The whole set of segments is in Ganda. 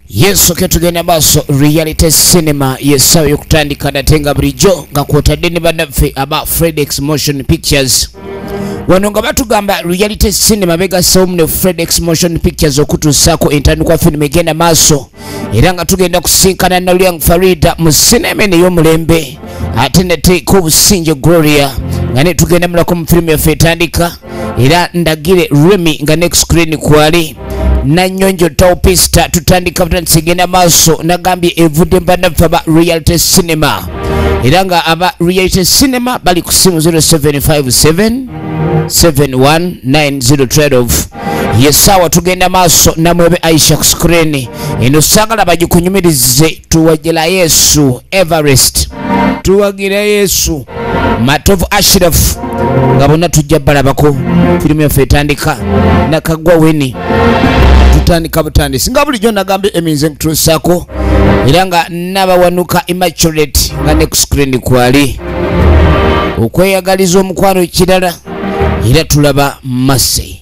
yesu ke tugenda maaso reality cinema yesawo yokutandika nate nga bulijjo nga kwotadde ne banaffe aba fredex motion pictures wano nga batugamba reality cinema begasewomu ne fredex motion pictures okutuusaako entandikwa firimu egenda maaso era nga tugenda kusinkana nalyang farida mu sinema eno ey'omulembe ate nateeka obusinge gloria nga netugenda mulako mu firimu yaffe etandika era ndagire remy nga next screen kwali nanyonjo taupista tutandika butandisi genda maaso nagambye evudde mbanaffe aba reality cinema era nga aba reality cinema bali ku simu 0757 71912 yesaawa tugenda maaso namwebe aisha ku screen eno sagala bagikunyumirize tuwajela yesu everest tuwagira yesu matovu ashirafu nga bonna tujja balabako firimu yaffe etandika nakagwa weni tutandika butandisi nga bulijjo nagambye eminze nkutuusaako era nga nabawanuka immaculate nga ne ku screen kwali okweyagaliza omukwano ekirala era tulaba masi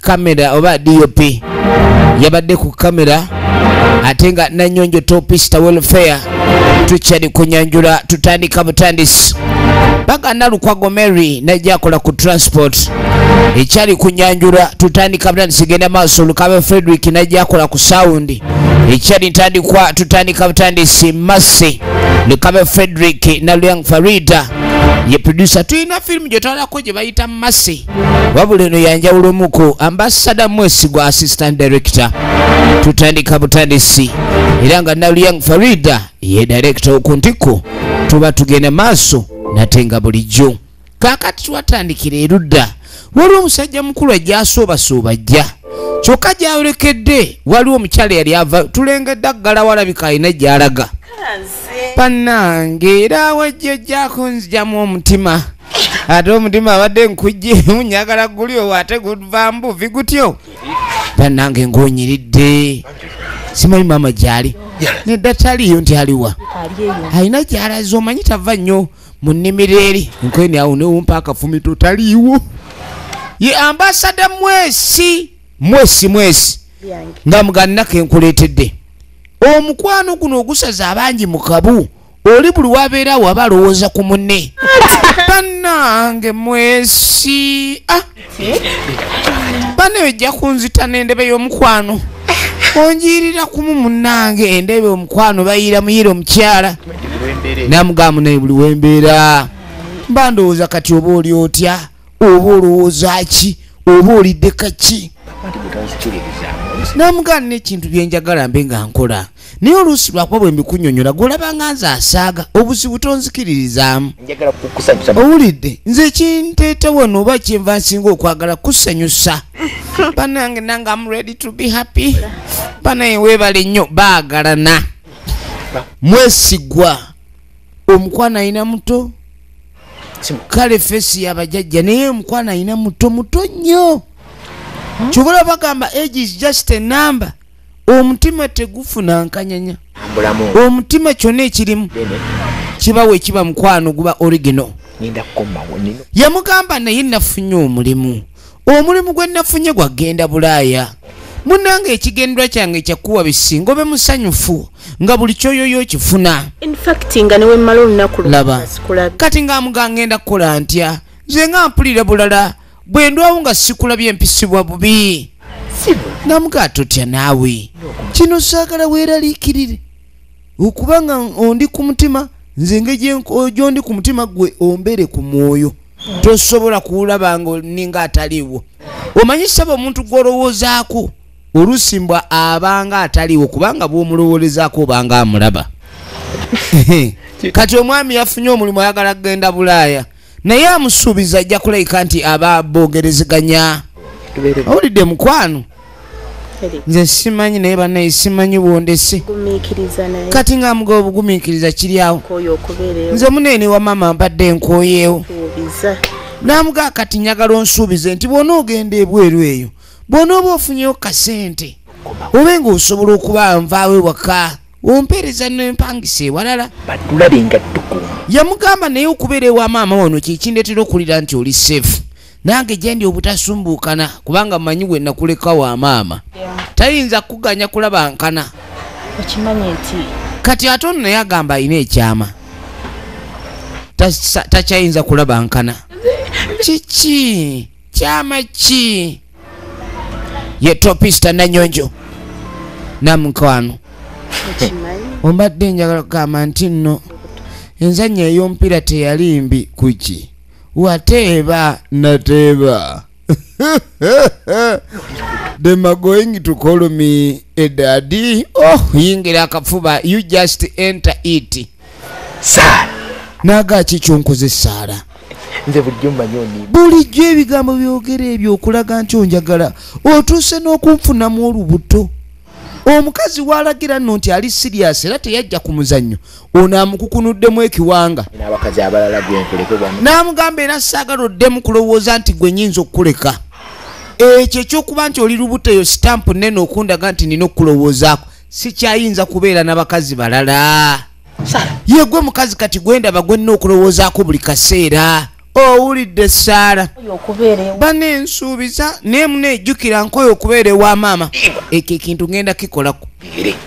kamera oba dop yabadde ku kamera ate nga nanyonjo topista welfare tukyali kunyanjula tutandika butandisi baga nalukwago mary najja akola ku transport ekyali kunyanjula tutandika butandisi genda maaso lukabe frederick najja akola ku sawundi ekyali ntandikwa tutandika butandisi masi lukabe frederick naluyang farida ye producer tulina firimu gyetwalako gye bayita masi wabula eno yanjawulo omuku ambasada mwesigwa assistant director tutandika butandisi era nga naluyang farida ye director okuntiku tuba tugenda maaso nate nga bulijjo kakati twatandikira erudda waliwo omusajja mukulu ajja asuubasuuba ajja kyokka gyayolekedde waliwo omukyala yali ava tulengedde aggala walabika alina gyalaga bannange era wajja ojjako nzijamu omutima ate omutima abadde nkujje munyagala guli owo ate guva mbuvi gutyo banange ngonyiridde simanyi maama gyali nedda taliyo nti aliwa alina gyalaza omanyi tava nnyo mu nnimiro eri nkweni awo newumpa akafumito taliiwo ye ambasada mwesi mwesi mwesi nga muganako enkuleetedde omukwano guno ogusaza abangi mu kabu oli buli wabeera waba alowooza ku munne banange mwesi ah. bana ejja kunzita nendebe y'omukwano onjiirira kumu munange endebe omukwano bayiira muyiira omukyala namugamba naye buli wembeera mba ndowooza kati oba oli otya oba olowooza ki oba olidde kaki namugaana n'ekintu byenjagala mbe nga nkola naye oluusi lwakuba bwe mbikunyonyola gwolaba nga nze asaaga obuzibu tonzikiririzaamu owulidde nze kinteeta wano oba kyenva nsinga okwagala kusanyusa banange nange am ready to be happy banaye weebale nnyo baagalana mwesigwa omukwano ayina muto kale fesi yabajajja naye omukwano alina muto muto nnyo kyobola bagamba age is just a number omutima tegufuna nkanyanya omutima kyona ekirimu kibawo ekiba mukwano guba original yamugamba naye nafunye omulimu omulimu gwe nafunye gwa genda bulaaya munange ekigendwa kyange kyakuwa bisinga obe musanyufu nga buli kyoyoyo okifuna laba kati nga amuga ngenda kukola ntya nze nga mpulira bulala bwe ndwawo nga sikulabye mpisibwa bubi namuga totya naawe kino saagala weeraliikirire okuba nga ondi ku mutima nze engeri gyondi ku mutima gwe ombere ku mwoyo tosobola kuwulaba nga ninga ataliiwo omanyi saba omuntu gwolowoozaako oluusi mbwa abanga ataliiwo kubanga bwomulowolezaako obanga amulaba kati omwami yafunye omulimu ayagala kugenda bulaaya naye amusuubiza ajja kulabika nti aba bogerezeganya owulidde mukwano nze simanyi naye banaye simanyi bwondese kati nga amuga obugumikiriza kiryawo nze muneene wa maama mbadde enkoyeewo namugaa kati njagala onsuubize nti bwona ogenda ebweru eyo bwona oba ofunyewo kasente obe nga osobola okuba nvaawo ewaka ompeereza nempangisa ewalala batulabe nga tukuuma yamugamba naye okubeera ewa maama wano kyekindetera okuwulira nti oli safe nange gyendi obutasumbuukana kubanga manyi we nakuleka wa maama tayinza kuganya kulaba nkana okimanyi nti kati ate ono naye agamba alina ekyama takyayinza kulaba nkana kiki kyama ki ye topista nanyonjo namukwano ombadde njagala kugamba nti nno enzannya ey'omupiira teyali mbi kuki wateeba nateeba the magoing to call me edadi oh yingira akafuba you just enter it saala naaga ki kyonkoze esaala nze bulijjo mmanyi oni bulijjo ebigambo byogera ebyo okulaga nti onjagala otuuse n'okunfunamu olubuto omukazi walagira nno nti ali siriyasi era teyajja ku muzannyo ono amukukunuddemu ekiwanga n'amugamba era saagala oddemu kulowooza nti gwe nyinza okukuleka ekyo ekyokuba nti oli lubuto eyo sitampu nene okundaga nti nina okukulowoozaako sikyayinza kubeera na bakazi balala yegwe mukazi kati gwendaba gwenna okulowoozaako buli kaseera owulidde saala bana ensuubiza naye muna ejjukira nkoyo okubeera ewa maama ekyo ekintu ŋenda kikolako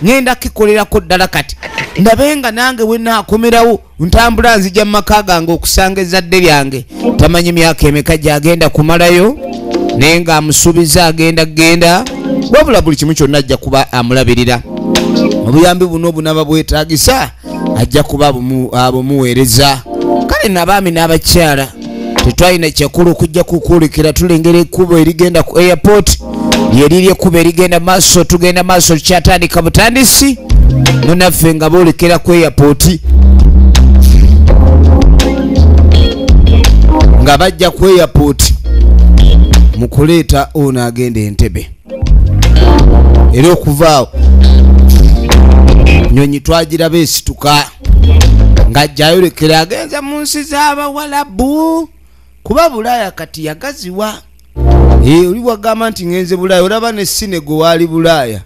ŋenda kikolerako ddala kati ndabe nga nange wenaakomerawo ntambula nzija mu maka gange okusanga ezzadde lyange tamanyi myaka emeka gyagenda kumalayo naye nga amusuubiza agenda kugenda wabula buli kimu kyonna ajja kuba amulabirira obuyambi buno obunaba bwetagisa ajja kuba abumuweereza kale nabaami n'abakyala tetwalina kyakulu okujja kukuulikira tulengera ekkubo erigenda ku airport lyeriri ekkubo erigenda maaso tugenda maaso tukyatandika butandisi munaffe nga boolekera ku airport nga bajja ku airport mu kuleeta ono agenda entebe era okuvaawo nyonyi twagiraba esituka nga jayolekera agenza mu nsi z'abawalabu kuba bulaaya kati yagaziwa eh, oli wagamba nti ngenze bulaaya olaba ne sinego waali bulaaya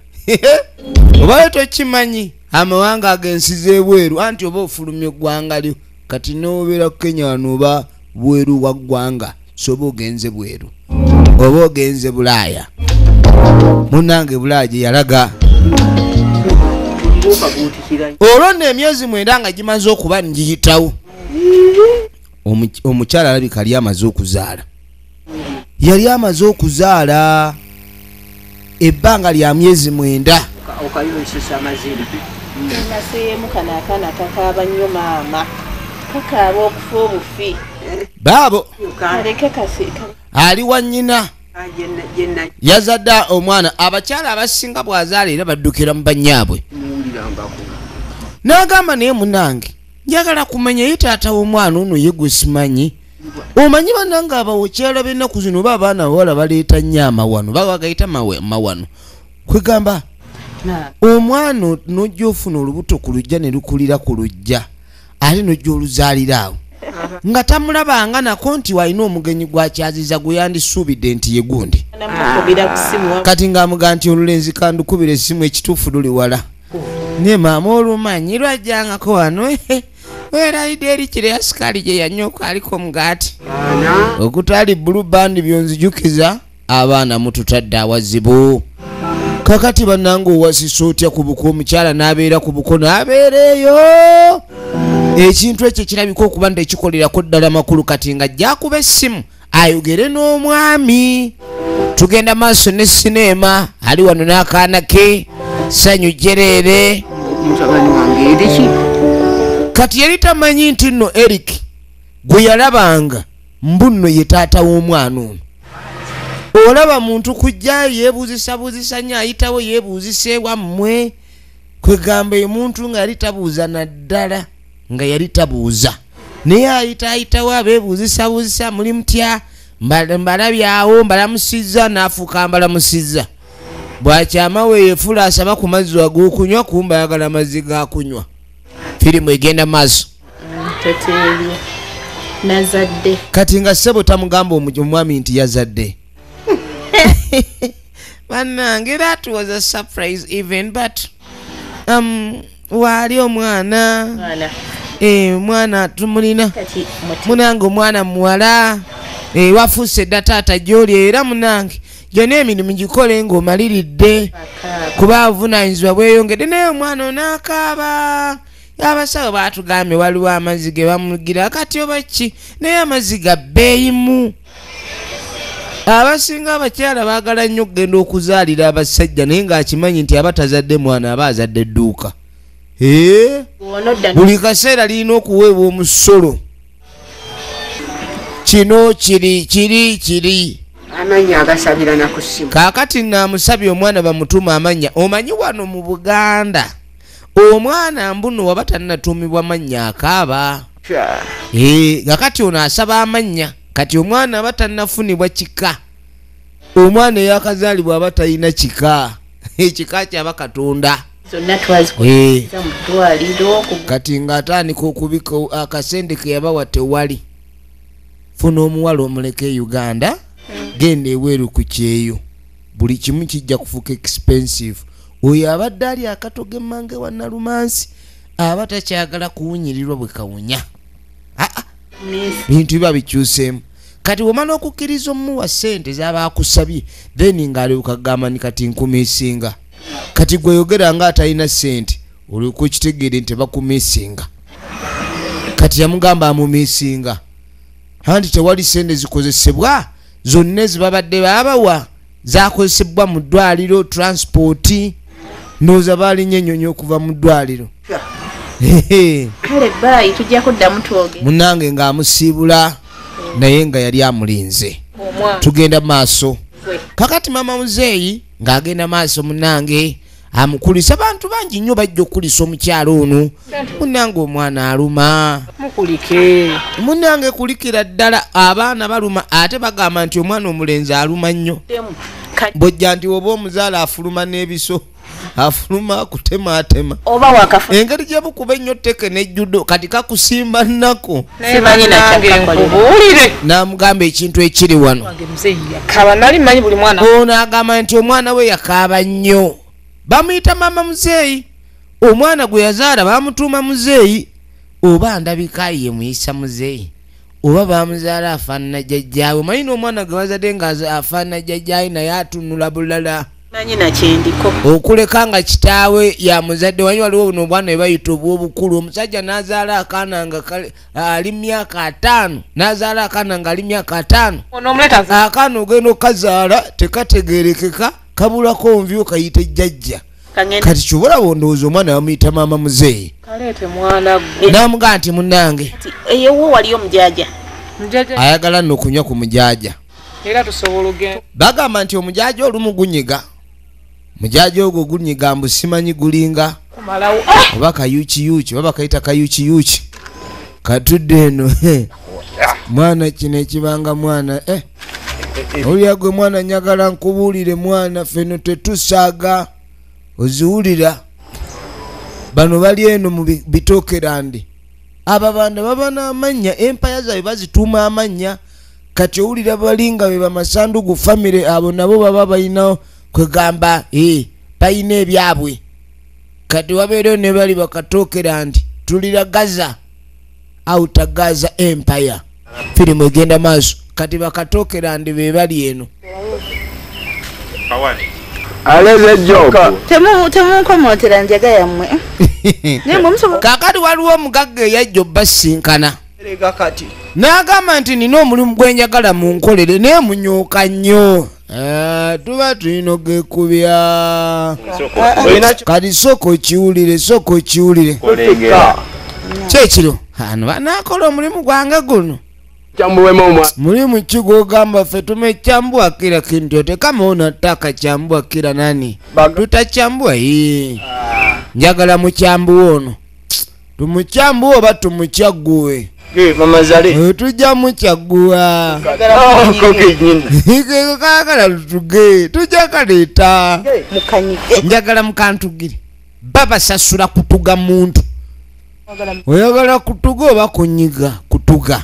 obayo tokimanyi amawanga agensi z'ebweru anti oba ofulumya eggwanga lyo kati n'obeera kukenya wano oba bweru wa ggwanga soba ogenze bweru oba ogenze bulaaya munange bulaaya gye yalaga olwo nno emyezi mwenda nga gimaze okuba ngiyitawo omukyala alabika ali amaze okuzaala yali amaze okuzaala ebbanga lya myezi mwenda baabo ali wa nnyina yazadde omwana abakyala abasinga bwazaala era baddukira mu bannyaabwe n'agamba naye munange njagala kumanya ye taata w'omwana ono ye gwesimanyi omanyi banange abawokyala benaku zino oba abaana bawala baleeta nyo amawano bagagayita mawano kwegamba omwana nojja ofuna olubuto ku lujja ne lukulira ku lujja ate nojja oluzaalira awo nga tamulabanga nako nti walina omugenyi gwakyaziza gweyandisuubidde nti ye gundi kati ngaamuga nti olulenzi kandukubira essimu ekituufu luli wala naye maama olumanyi lwajjangako wano weraideri kire ya sukali gye yanyoka aliko omugaati okutali bulu bandi byonzijukiza abaana mututadde awazibu kakati banange owasisa otya ku buko omukyala n'abeera ku buko n'abeera eyo ekintu ekyo kirabika okuba nti ekikolerako ddala makulu kati nga jjakuba essimu ayogere n'omwami tugenda maaso ne sineema ali wano n'akaana ke sanyu jereere kati yali tamanyi nti nno eric gwe yalabanga mbu nno ye taata w'omwana ono olaba muntu kujja yebuuzisabuuzisa nyo ayitawo yebuuzisa ewammwe kwegamba omuntu nga yali tabuuza naddala nga yali tabuuza naye ayitaayitawo abeebuuzisabuuzisa muli mutya mbalabyawo mbalamusizza n'afuuka mbalamusizza bwakyama weyefuula asaba ku mazzi ag'okunywa kumba ayagala amazzi g'akunywa firimu egenda maaso nazadde kati nga ssebo tamugamba omwami nti yazadde banange that was a surprise even but um, waali omwana eh, omwana tumulina munange omwana muwala eh, wafuuse dda taata gyoli era munange gyona emirimu gikole ngaomaliridde kuba avunanyizibwa bweyongedde naye omwana onakaaba abasawo batugambye waliwo amazzi ge bamugira kati oba ki naye amazzi ga bbeeyimu abasinga abakyala baagala nnyo okugenda okuzaalira abasajja naye ng'akimanyi nti aba tazadde mwana aba azadde dduuka buli kaseera lirina okuweebwa omusolo kino kiri kiri kiri amanya agasabira nakusimu kakati namusabye omwana bamutuma amanya omanyi wano mu buganda omwana mbuno waba tanatuumibwa mannya akaaba eh, nga kati ono asaba amannya kati omwana aba tanafunibwa kika omwana eyakazaalibwa aba talina kika ekika kyaba katonda eh. kati ngaatandika okubika akasente keyabawa tewali funa omuwala omuleka e uganda hmm. genda eweeru ku kyeyo buli kimu kijja kufuuka expensive oyo abadde ali akatoga emmanga ewa nalumansi aba takyagala kuwunyirirwa bwe kawunya aa bintu biba bikyuseemu kati wemala okukkiriza omuwa sente zaba akusabye then ngaalyoka gamba ni kati nkumisinga kati gweyogera nga atalina sente olyoka okitegeere nti bakumisinga kati yamugamba amumisinga anti tewali sente zikozesebwa zonna ezibabadde babawa zakozesebbwa mu ddwaliro transipooti ndowooza balinye enyonyi okuva mu ddwaliro munange ng'amusiibula naye nga yali amulinze tugenda maaso kakati mama muzeeyi ng'agenda maaso munange amukulisa bantu bangi nnyo bajja okukulisa omukyala ono munange omwana aluma mukulike munange kulikira ddala abaana baluma ate bagamba nti omwana omulenzi aluma nnyo bojja nti oba omuzaala afuluma n'ebiso afuluma akutematema engeri gyebukuba ennyo teke nejjudo kati kakusimba nnako naye banange nkubuulire namugamba ekintu ekiri wano ono agamba nti omwana we yakaaba nnyo bamuyita maama muzeeyi omwana gwe yazaala bamutuuma muzeeyi oba ndabika ye muyisa muzeeyi oba bamuzaala afaanana jajjaawe omanyi n'omwana gwe bazadde nga afaanana jajjaawe naye atunula bulala okuleka nga kitaawe ya muzadde wanyi waliwo buno obwana ebayita obwobukulu omusajja nazaala akaana nga ali myaka ataano nazaala akaana nga ali myaka ataano akaana ogenda okukazaala tekategerekeka kabulako nvi okayita ejjajja kati kyobola bondowooza omwana bamuyita maama muzeeyi namugaa nti munange ayagala nokunywa ku mujaja era tusobola ogenda bagamba nti omujaja olumu gunyiga mujaja ogwo gunyiga mbu simanyi gulinga kumalawo ah! oba kayukiyuki oba bakayita kayukiyuki katudde eno eh. mwana kino ekibanga mwana eh. owulira gwe mwana nyagala nkubuulire mwana feno tetusaaga oziwulira bano bali eno mu bitokerandi ababanda baba n'amannya empaya zaabwe bazituuma amannya kati owulira bali nga be bamasandugu famire abo nabo baba balina kwegamba e balina ebyabwe kati wabeereyo ne bali bakatookera nti tulira gaza outa gaza empire firimu egenda maaso kati bakatookera ndi be bali eno aleze joka temunkomotera njaga yammwe kakati waliwo omugagga eyajja obbasinkana n'agamba nti nina omulimu gwe njagala mu nkolere naye munyuuka nnyo eh, tuba tulina ogekubya kati sooka okiwulire sooka okiwulire kyekiro ano banaakola omulimu gwange guno mulimu ki gwogamba ffe tumekyambua kira kintu yote kama unataka chambua kira nani tutachambua hii ah. njagala mukyambuwa ono tumutya mbu oba tumutya gguwe eh, eh, tujja mukyagguwa kakala lutuge tujja kaleeta njagala mukantugire babasasula kutuga muntu oyagala kutuga oba kunyiga kutuga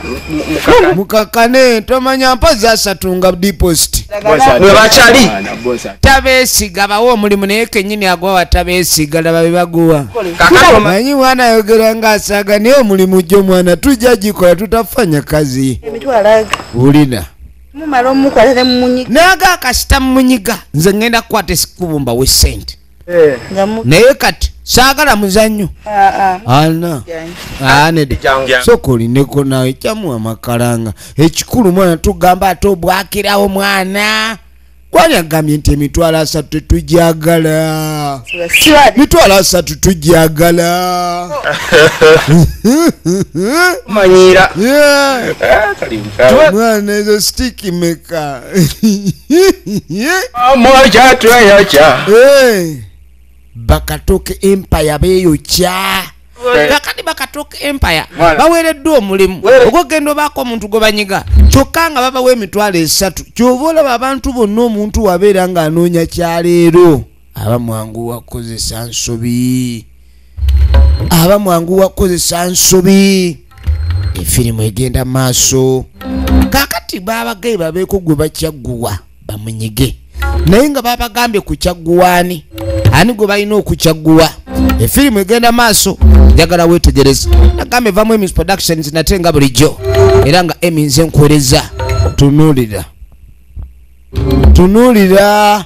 mukakane tomanya mpozi asatu nga deposit bwebakyali tabesiga bawa omulimu naye kenyini agwa watabesiga laba bebaguwa manyi mwana ayogera nga asaga naye omulimu jo mwana tujja gikola tutafanya kazi wulina naga akasita mumunyiga nze ngenda kukwata esikubumba wesente Eh. naye kati saagala muzannyo ah, ah. ana anedsoka olineko nawe kyamu amakalanga ekikulu mwana tugamba ate obwakirawo mwana kwani agambye nti emitwalo asatu tetujagala mitwalo asatu tujagala manyira eh, mwana ezo stikimeka Moja tweyocha. Eh. bakatoke empire beyokya Eh. kakati bakatoke empire Mwana. baweereddwa omulimu Wewe. ogwokugenda obaako omuntu gwe banyiga kyokka nga babawa emitwalo esatu kyova olaba abantu bonna omuntu wabeera ng'anoonya kyaleero aba mwangu wakukozesa nsobi aba mwangu wakukozesa nsobi efirimu egenda maaso kakati babagaye babeeko gwe bakyagguwa bamunyige naye nga babagambye kukyagguwaani ani gwe balina okukyagguwa efirimu egenda maaso njagala wetegereza nagambe vamu emis productions nate nga bulijjo era nga emi nze nkuwereza tunulira tunulira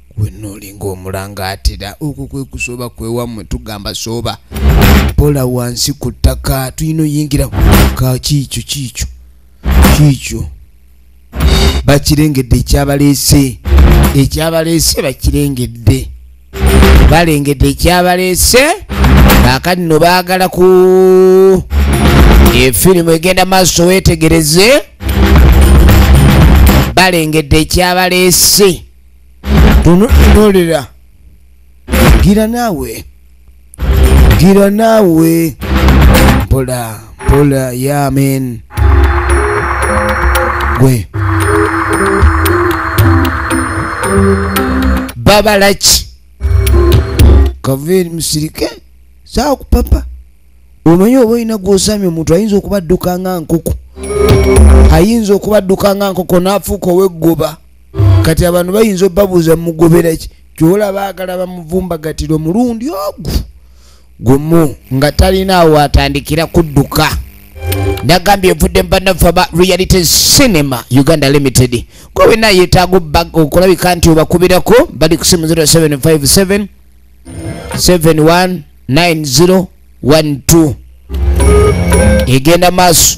wenna olinga omulangaatira okwo kwe kusooba kwewammwe tugamba sooba pola wansi ku ttaka tulina oyingira ka kiikyo kiikyo kiikyo bakirengedde ekyabaleese ekyabaleese bakirengedde balengedde ekyabaleese kaakati no baagala ku efirimu egenda maaso weetegereze balengedde ekyabaleese tononolera gira naawe gira naawe mpola mpola yamen gwe babalaki kaveri musirike saa kupapa omanyi oba olina gwosami omuntu ayinza okubadduka nga nkoko ayinza okubadduka nga nkoko naafuuka oweggoba kati abantu bayinza obabuuza mugoberaki kyola baagala bamuvumbagatira omulundi ogu gumu nga talinaawo atandikira kudduka nagambye evudde mubanaffe aba reality cinema uganda limited gwe wena yetaaga okulabika nti obakubirako bali ku simu 0757 719012 egenda maaso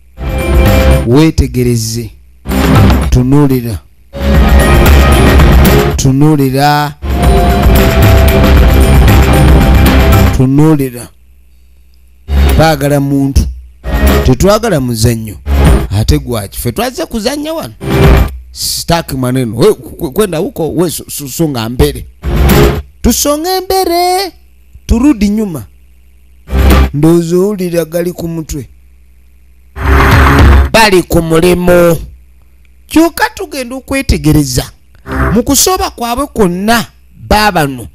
weetegereze tunulira tunulira tunulira baagala muntu tetwagala muzannyo ate gwaki fe twazze kuzannya wano stak maneno kwenda huko we songa mbele tusonge mbele turudi nyuma ndozoulira gali ku mutwe bali ku mulimu kyoka tugenda okwetegereza mu kusooba kwabwe kwonna baabano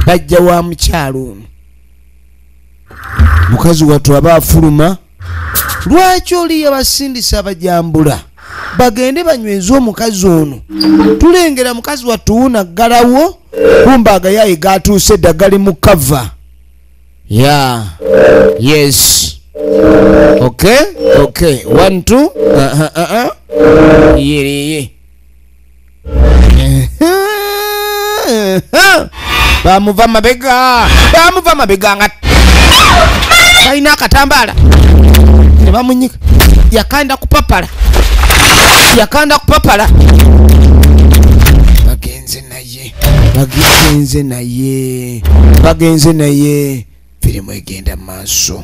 bajja wa mukyalo ono mukazi wattu aba afuluma lwaki oli yabasindisa abajambula bagende banyweze omukazi ono tulengera mukazi wattu wunaggalawo kumba agayaye gatuuse eddaggali mu kava Yeah. Yes. Okay. Okay. One, two. Uh-huh, uh-huh. Yeah, yeah, yeah. bamuva mabega bamuva mabega nga talina akatambaala nebamunyika yakanda kupapala yakanda kupapala naye bagenze naye bagenze naye firimu egenda maaso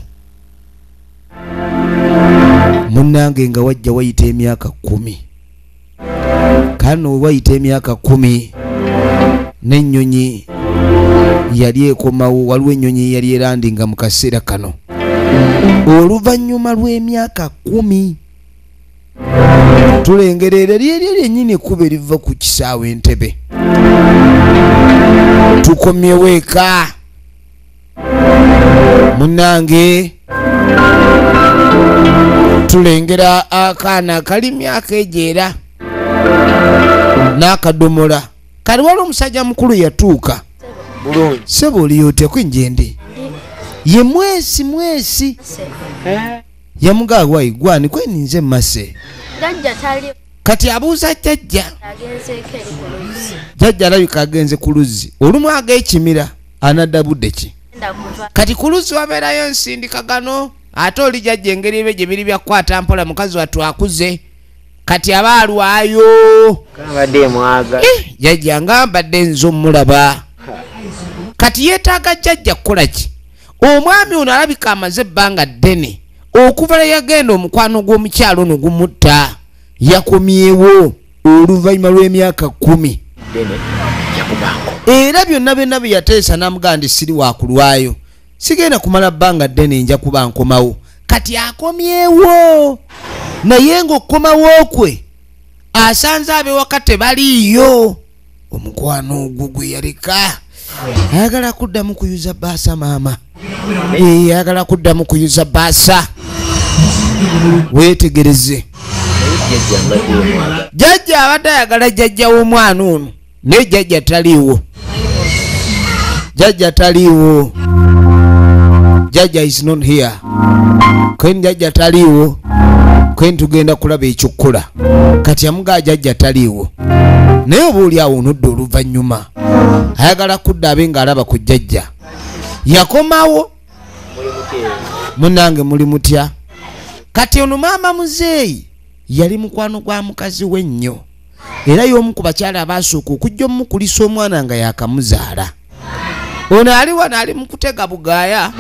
munange nga wajja wayita emyaka kumi kano wewayita emyaka kumi n'ennyonyi yali ekomawo waliwo ennyonyi yali erandi nga mu kaseera kano oluvannyuma lw'emyaka kumi tulengera era lyeryo lyenyini ekkuba eriva ku kisaawe entebe tukomyewo eka munange tulengera akaana akali myaka egyo era n'akadomola kali wali omusajja mukulu yatuuka sebo oliyotya kwinjendi ye mwesi mwesi yamugaa wai gwani kweninze mase kati abuuza jajja jajja alabika agenze ku luzzi olumu agekimira anadda budde ki kati ku luzzi wabeerayo nsindika gano ate oli jajja engeri ebyo gye biri byakukwata mpola mukazi wattu akuze kati aba alwayo eh, jajja nga mbadde nze omulaba kati yeetaaga jajja kukola ki omwami ono alabika amaze ebbanga ddene okuva lwe yagenda omukwano gw'omukyalo ono gumutta yakomyewo oluvannyuma lw'emyaka kumi era byonna byonna bye yateesa n'amugaa ndi siri wakulwayo sigenda kumala bbanga ddene nja kuba nkomawo kati akomyewo naye ng'okukomawo kwe asanze abewaka tebaliiyo omukwano ogwo gwe yaleka ayagala kuddamu kuyuza baasa maama ayagala kuddamu kuyuza baasa weetegereze jajja abadde ayagala jajja w'omwana ono naye jajja taliiwo jajja taliiwo jajja is not here kwen jajja taliiwo kwen tugenda kulaba ekyokkola kati amugaa jajja taliiwo naye oba oli awo onodda oluvannyuma ayagala kudda abe ng'alaba ku jajja yakomawo munange muli mutya kati ono maama muzeeyi yali mukwano gwa mukazi we nnyo era y'omu ku bakyala abaasooka okujja omukulisa omwana nga yakamuzaala ono ali wano ali mukutega bugaya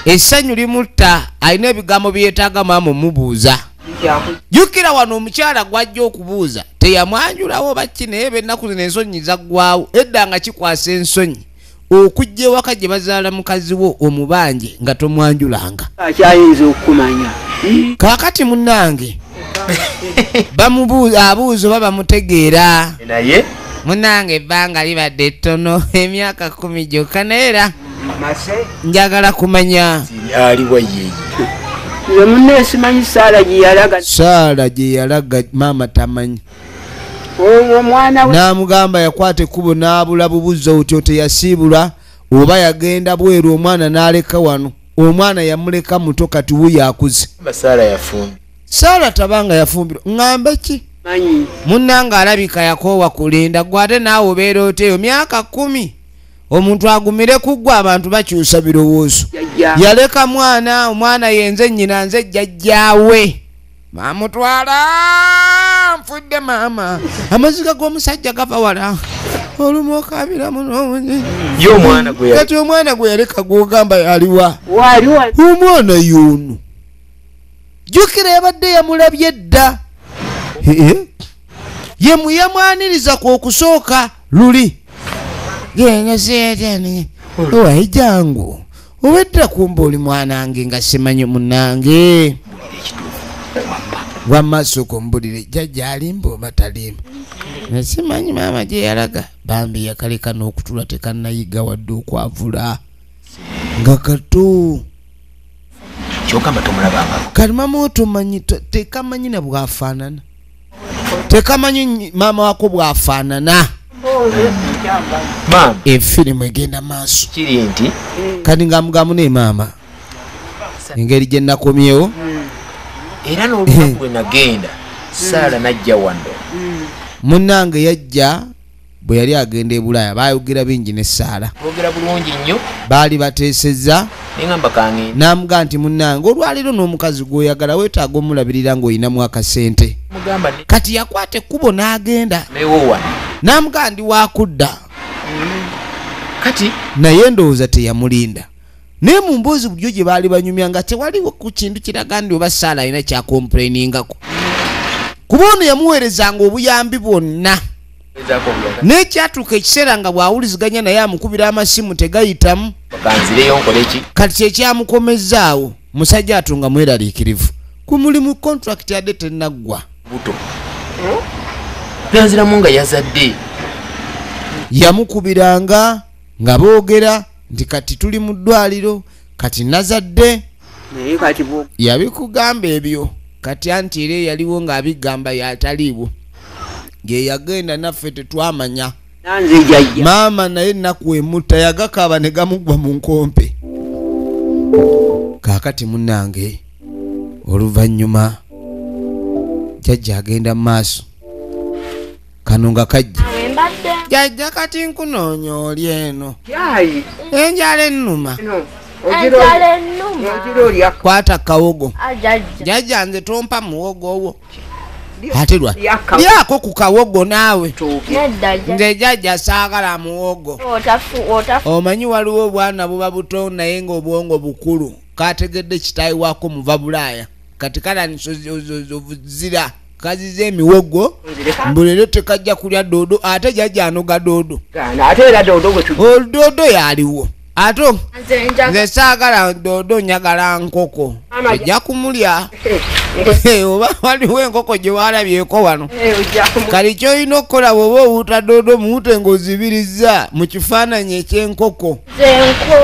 essanyu limutta alina ebigambo byetaaga maama omubuuza jukira wano omukyala gwajja okubuuza teyamwanjulawo bakki naye benaku zino ensonyi zaggwawo edda nga kikwasa ensonyi okujja ewaka gye bazaala mukazi wo omubanje nga tomwanjulanga akyayinza okukumanya kakati munange abuuza oba bamutegeera munange ebbanga libadde ettono emyaka kumi gyokka naye era njagala kumanya aliwa yeye ye munne simanyi saala gyeyalaga saala gyeyalaga maama tamanyi oyo omwana we namugamba yakwata ekkubo n'abula bubuza otyo teyasiibula oba yagenda bweru omwana n'aleka wano omwana yamuleka muto kati wuyo akuze saala yafumbi saala tabanga yafumbirwa ŋŋambe ki munnanga alabika yakoowa kulinda gwe ate naawe obeera oteeyo myaka kkumi omuntu agumire ku ggwe abantu bakyusa birowoozo yaleka mwana omwana yenze nnyina nze jjajjaawe mamutwala nfudde maama amaziga g'omusajja gava wala olumu okabira munoonyi kati omwana gwe yaleka gwogamba yaliwa omwana yono jukira yabadde yamulabye dda ye muyamwaniriza ku okusooka luli owaye jangu obedda kumba oli mwanange nga simanyi munange wamaaso kumbulire jajja alimba oba talimba nasimanyi maama gyeyalaga bambi yakaleka n'okutula tekanayiga wadde okwavula nga kato kyokamba tomulabanga kati mama wo tomanyi tekamanyi na bwafaanana tekamanyi maama wako bwafaanana efirimu egenda maaso kiri nti kati nga mugamu ne maama engeri gye nakomyewo era nolwenagenda saala najja wano munange yajja bwe yali agenda e bulaaya baayogera bingi ne saala boogera bulungi nnyo baali bateesezza n'amugaa nti munnange olwaleero n'omukazi gw'oyagala weetaaga omulabirira ng'olinamu akasente kati yakwata ekkubo n'agenda n'amugaa ndi waakudda mm. kati naye ndowooza teyamulinda naye mu mboozi bulijo gye baali banyumya nga tewaliwo ku kintu kiraga ndi oba saala alina kyakomplainingako kuba ono yamuweerezanga obuyambi bwonna n'ekyatuuka ekiseera nga bw'awuliziganya naye amukubira amasimu tegayitamu kati kyekyamukomezzaawo musajja atu nga mweraliikirivu ku mulimu kontrakiti yadde tenaggwa yanziramu nga yazadde yamukubiranga nga boogera nti kati tuli mu ddwaliro kati nazadde yabikugamba ebyo kati anti era eyaliwo ng'abigamba yataliibwo ngeyagenda naffe tetwamanya maama naye ennaku emutta yagakaaba ne gamuggwa mu nkompe kaakati munnange oluvannyuma jajja agenda mu maaso kano nga kajja jajja kati nkunoonya oli eno enjala ennuma kwata kawogo ah, jajja nze tompa muwogo owo ate lwa lyako ku kawogo naawe nze jajja saagala muwogo omanyi waliwo obwana buba buto naye ngaobwongo bukulu kategedde kitaayi wako muva bulaaya kati kala nzira kaziza emiwogo mbu leero tekajja kulya doodo ate jajja anoga doodo doodo yaliwo ate nze saagala doodo njagala nkoko ejja kumulya oba waliwo enkoko gye walabyeko wano eh, kali kyolina okukola bwoba owuuta doodo muwute ngaozibirizza mu kifaananyi ekyenkoko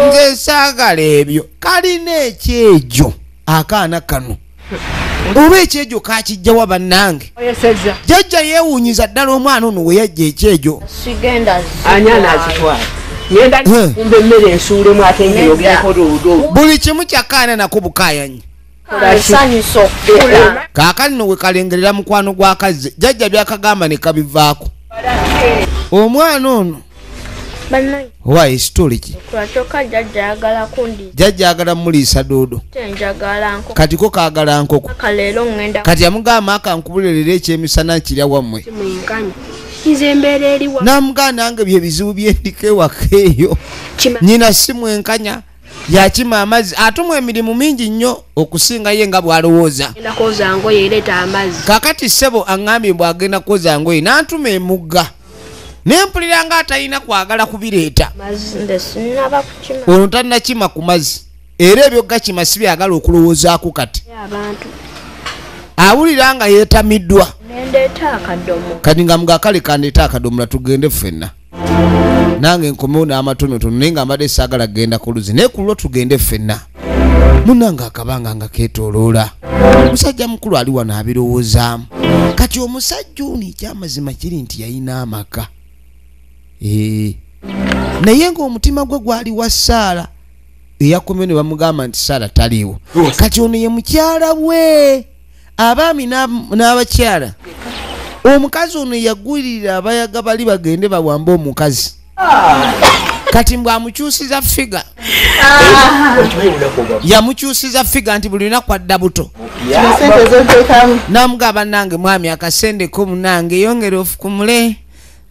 nze saagala ebyo kalina ekyejo akaana kano oba ekyejo kakijjawa bannange jajja yewunyiza ddala omwana ono weyajja ekyejo buli kimu kyakaana nako bukayanyi kakati no wekalengerera mukwano gwakazze jajja byakagamba nekabivaako omwana ono wayi situli ki jajja agala muliisa duudu kati ko kagala nkoko kati amugamba akankubulelera ekyemisana kirya wammwe namugaa nange byebizibu byendiko ewaka eyo nyina simwenkanya yakima amazzi atumwa emirimu mingi nnyo okusinga ye nga bwalowooza kakati ssebo aŋambye bwagenda kwoza ngoye nantuma emugga naye mpulira nga atalina kwagala kubireeta ono tanakima ku mazzi era ebyo gakima si byagala okulowoozaako kati awulira nga yeetamiddwa kati nga mugakale kandeeta akadomola tugende ffenna nange nkomewo n'amatonotono naye nga mbadde saagala kugenda ku luzi naye ku lwo tugende ffenna munange akabanga nga ketoloola musajja mukulu ali wano abirowoozaamu kati omusajja ono ekyamazima kiri nti yalina amaka eh. naye ngaomutima gwe gwali wa saala eyakomeo ne bamugamba nti saala taliiwo kati ono ye mukyala we abaami n'abakyala omukazi ono yagulirira abayaga bali bagende bawambe omukazi kati mbw amukyusiza figa yamukyusiza figa nti buli lunaku adda buto namugamba nange mwami akasendeko munange yongere ofukumule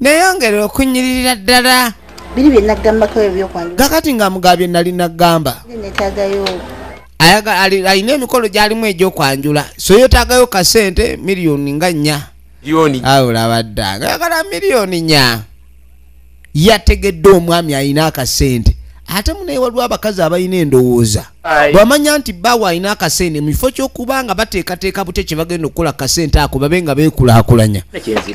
neyongere okunyiririra ddala biri byenagambako ebyokwanga kakati nga mugabye nali nagamba netagayo alina emikolo gyalimu egyokwanjula so yetagayo kasente miliyoni nga nya awulabadda ngayagala miliyoni nya yategedde omwami alina akasente ate munaye waliwo abakazi abalina endowooza bwamanya nti bawe alina akasente mu kifo kyokuba nga bateekateeka butya kyebagenda okukola kasente ako babe nga beekulakulanya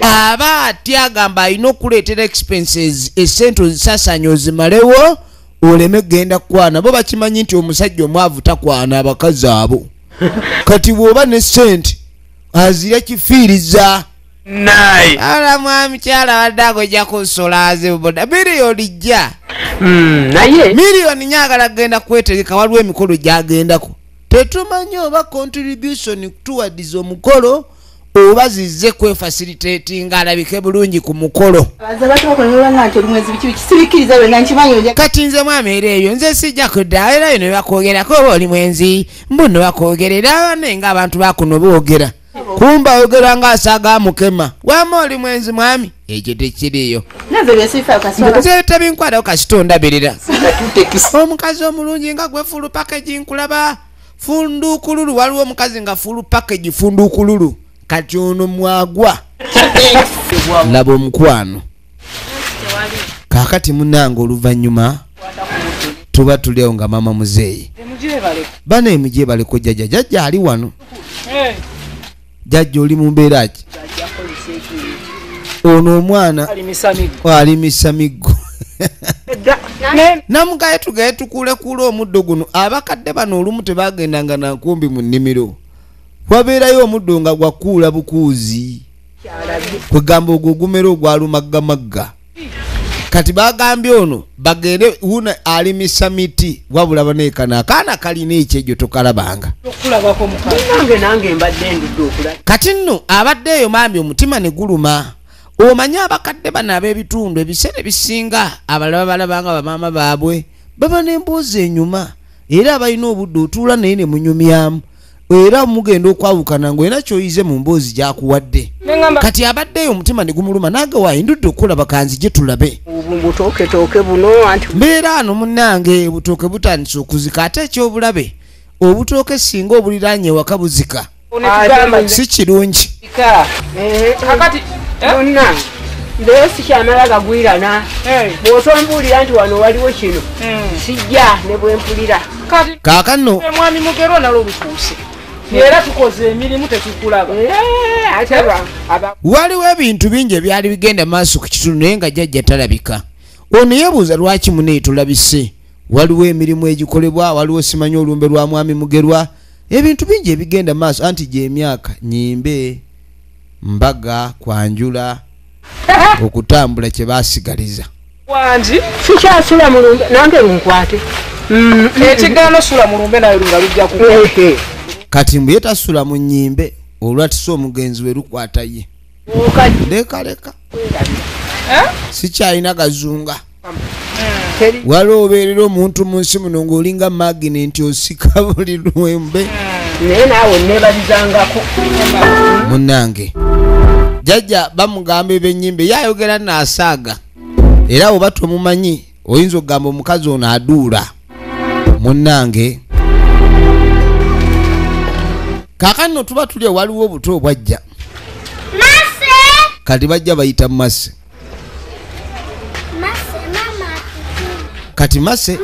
aba ati agamba alina okuleetera expenses esente ozisasanya ozimalewo oleme genda kukwana bo bakimanyi nti omusajja omwavu takwana abakazi abo kati bwoba ne sente azira kifiiriza naye ala mwami kyala wadde agojja kusola azibuda miliyoni jja hmm, naye miliyoni nyagala kugenda kwetegeka waliwo emikolo gyagendako tetumanyi oba contribution towards omukolo oba zize kwefasilitatinga alabike bulungi ku mukolo kati nze mwami era eyo nze sijja kudda era yo nebakwogerako oba oli mwenzi mbu nebakwogerera nenga abantu bakuno boogera kumba ogera nga asaga mukema wama oli mwenzi mwami ekyo tekiriyo zetabinkwalao kasita ondabirira omukazi omulungi nga gwefulu pakeji nkulaba fundukululu waliwo omukazi nga fulu package fundukululu kati ono mwagwa laba omukwano kakati munange oluvanyuma tuba tuliawo nga mama muzeeyi bana emujebaleko jaja jaja ali wano jajja oli mu mbeera ki ono omwana alimisa miggo namugaye tugaye tukulekuula omuddo guno abakadde bano olumu tebagendanga nankumbi mu nnimiro wabeerayo omuddo nga gwakuula bukuuzi kwegamba ogwo ogumera ogwalumaggamaggga kati bagambye ono bagende wuno alimisa miti wabula banekana akaana kalina ekyejo tokalabanga kati nno abadde eyo maami omutima ne guluma omanyi abakadde bano ab'ebitundu ebiseera ebisinga abalaba balabanga bamaama baabwe baba n'emboozi enyuma era abalina obudde otuula naye ne munyumyamu era mugenda okwawukana ngaolina kyoyize mu mboozi gyakuwadde kati abaddeyo omutima negumuluma nange wayindudde okukola bakanzi gye tulabe mbeera ano munange obutooke butandise okuzika ate ekyobulabe obutooke singa obuliranye ewaka buzika si kirungi Eh, kakati eh? munna naye sikyamala gagwirana eh. bwotombuulira nti wano waliwo kino sijja ne bwempulira kaakano mwami mugero nalo olukuuse era tukoze emirimu tetukulaba waliwo ebintu bingi ebyali bigenda maaso ku kitundu naye nga jajja talabika ono yebuuza lwaki muneetulabise waliwo emirimu egikolebwa waliwo simanya olumbe lwa mwami mugerwa ebintu bingi ebigenda maaso anti gyemyaka nyimbe mbaga kwanjula okutambula kyebasigaliza wangi sikyasula mulumbe nange lunkwate mm. ekigaana sula mulumbe naye lunga lujja ku kati mbuye tasula mu nyimbe olwatisa omugenzi we lukwata ye leka leka eh? sikyalina gazunga waliwo obeerera omuntu mu nsi muno ng'olinga magini nti osika buli lwembe naye naawe nebalizangako munange jajja bamugamba ebenyimbe yayogera nasaaga era oba tomumanyi oyinza okugamba omukazi ono aduula munnange kakanno tuba tuli ewaliwo obuto obwajja kati bajja bayita mase kati mase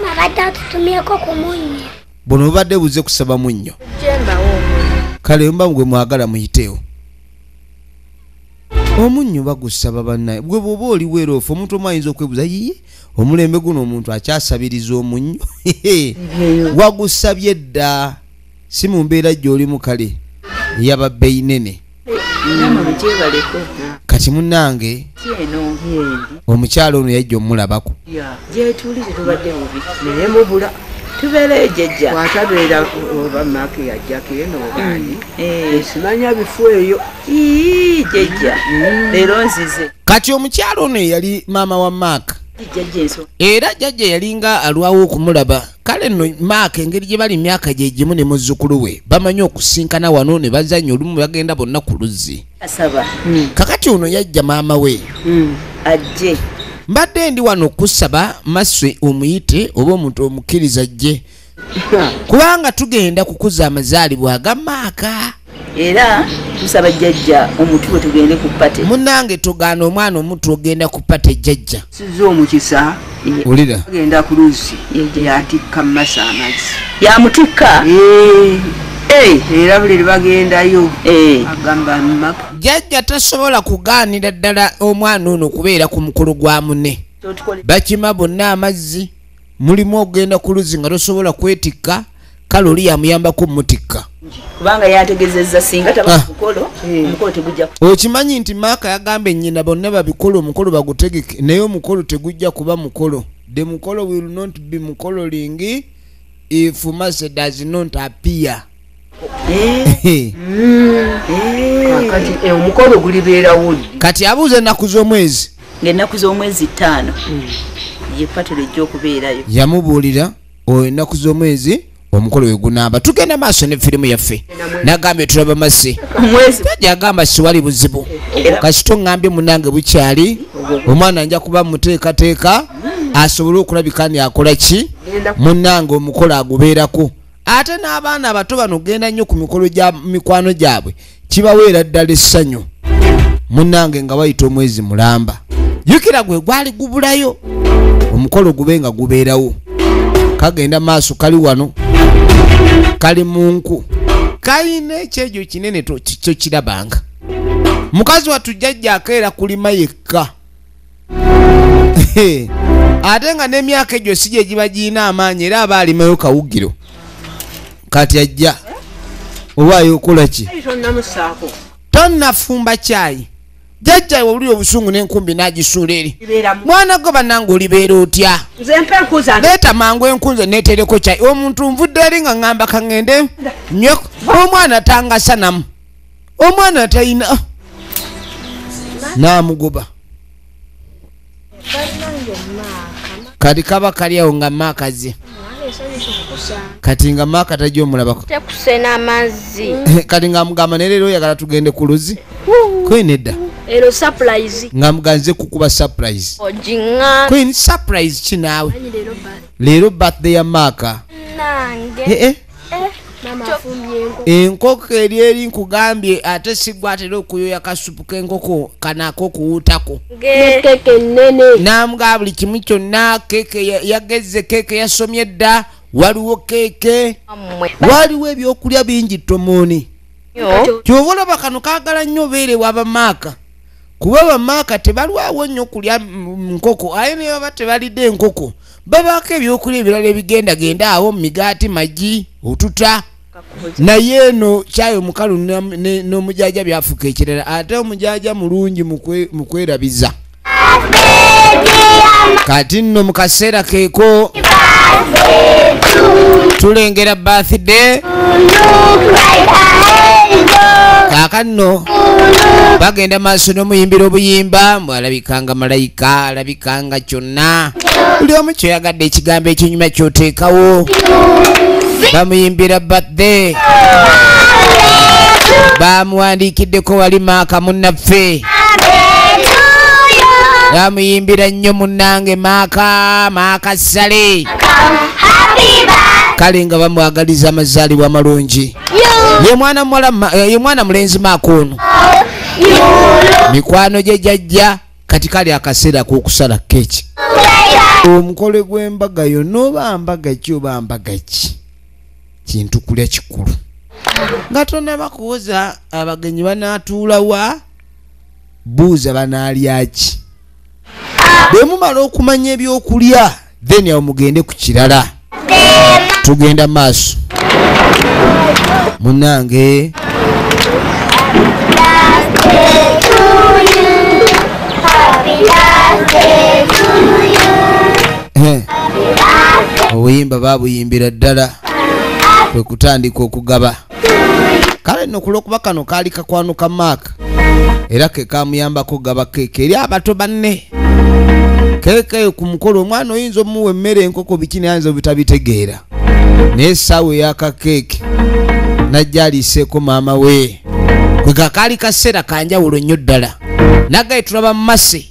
buno bubadde buze kusaba munnyo kale mba gwe mwagala muyiteewo omunnyo bagusaba bannaye gwe bwoba oli weeroofu omuntu omu ayinza okwebuza yiye omulembe guno omuntu akyasabiriza omunnyo wagusabye dda si mu mbeera gy'olimu kale yaba beyinene kati munnange omukyalo ono yajja omulabako gyetuli tetubadde bubi naye mubula tubeereyo jejja watabeera oba maaki yajjako eno obaani mm. eh. esimanya bifu eyo jejja mm. leero nzize kati omukyalo ono eyali maama wa maaka era jajja yalinga alwawo okumulaba kale no maaka engeri gye bali myaka gye gimu ne muzzukulu we bamanyi okusinkana wano ne bazanya olumu bagenda bonna ku luzzi asaba hmm. kakati ono yajja maama we hmm. ajje mbadde ndi wano kusaba maswe omuyite oba omuntu omukkiriza jje kubanga tugenda kukuza amazaalibwa agamaaka era tusaba jjajja omutu we tugende ku pate munange tugaana omwana omutu ogenda ku pate jjajja sizza omukisa wulira agenda ku luzzi yatikka mumasa amazzi yamutikka eh. Eh. era buli lwebagendayo eh. agamba mumaka jajja tasobola kugaanira ddala omwana ono kubeera ku mukolo gwa mune bakima bonna amazzi mulimu okugenda ku luzzi nga tosobola kwetikka kale oli yamuyambako mutikka kubanga yategezeza singa taba ah. mukolo eh. omukolo tegujja okimanyi nti maaka yagamba ennyina bonna babikolo omukolo bagutegeke naye omukolo tegujja kuba mukolo the mukolo will not be mukolo lingi if mase does not appear Eh. kati abuuza ennaku z'omwezi ngaennaku z'omwezi ttaano hmm. ye patula ejja okubeerayo yamubuulira oyo ennaku z'omwezi omukolo wegunamba tugenda maaso ne firimu yaffe nagambye tulaba masi taja agamba siwali buzibu kasito ngambye munange bukyali omwana nja kuba muteekateeka asobole okulabika ni akola ki munange omukolo agubeerako ate n'abaana abato bano genda nnyo ku mikolo gya mikwano gyabwe kibaweera ddala essanyu munnange nga bayita omwezi mulamba jukira gwe gwali gubulayo omukolo gube nga gubeerawo kagenda maaso kali wano kali mu nku kalina ekyejo kinene kyokirabanga mukazi wattu jjajja akeera kulima yekka ate nga n'emyaka egyo si gye giba girina amaanyi era aba alimayo kawugiro kati ajja owaayo okola ki tonnafumba kyayi jajja iwe uli obusungu n'enkumbi n'agisuula eri mwana gwe bannange olibeera otya leeta mangu enkunze neetereko kyayi omuntu nvudde eri nga ŋŋamba kaŋŋende nyo omwana tangasanamu omwana atayina ah. namugoba kati kaba kali awo nga maaka ze kati nga maaka tajja omulabako kati nga amugamba ne leero oyagala tugende ku luzi kwenedda ero surprise nga muganze kukuba surprise ojinga queen surprise kinaawe leero birthday ya maaka nange eh, eh. Eh, enkoko eri eri nkugambye ate sigwa atera okuyoya kasupu kenkoko kanako kuwutako namugaa buli kimu kyonna keke yagezze keke yasomye dda waliwo keke waliwo ebyokulya bingi tomoni kyova olaba kano kagala nnyo obeerewa bamaaka kuba bamaaka tebalwawo nnyo kulya nkoko aye naye baba tebalidde enkoko babaako ebyokulya ebirala ebigendagenda awo migaati magi otuta naye eno kyayo mukalu n'omujaja byafuuka ekirala ate omujaja mulungi mu kwerabiza kati nno mu kaseera keeko tulengera bathday kaakanno bagenda maaso n'omuyimbira obuyimba mbu alabikanga malayika alabikanga kyonna buli omu kyoyagadde ekigambo ekinyuma kyoteekawo bamuyimbira bathe bamuwandiikiddeko wali maaka munnaffe bamuyimbira nnyo munnange maaka maaka sale kale nga bamwagaliza amazaalibwa amalungi ye mwana muwala eh, ye mwana mulenzi maaka ono mikwano gye jajja kati kali akaseera k'okusala keeki omukole gw'embaga yo nooba mbaga ki oba mbaga ki kintu kulya kikulu nga tonaba kuwoza abagenyi banaatuula wa buuza banaalya ki bwe mumala okumanya ebyokulya then awo mugende ku kirala tugenda maaso munange obuyimba babuyimbira ddala kwe kutandika okugaba kale nno kulwokuba kano kaali kakwanuka maaka era ke kamuyambako gaba keeke eri abato banne keeke ku mukolo omwana oyinza omuwa emmere enkoko biki nayinza obutabitegeera naye essaawa eyaka keeke najja aliiseeko maama we kwe kakaali kaseera kanjawulo nnyo ddala nagaye tulaba masi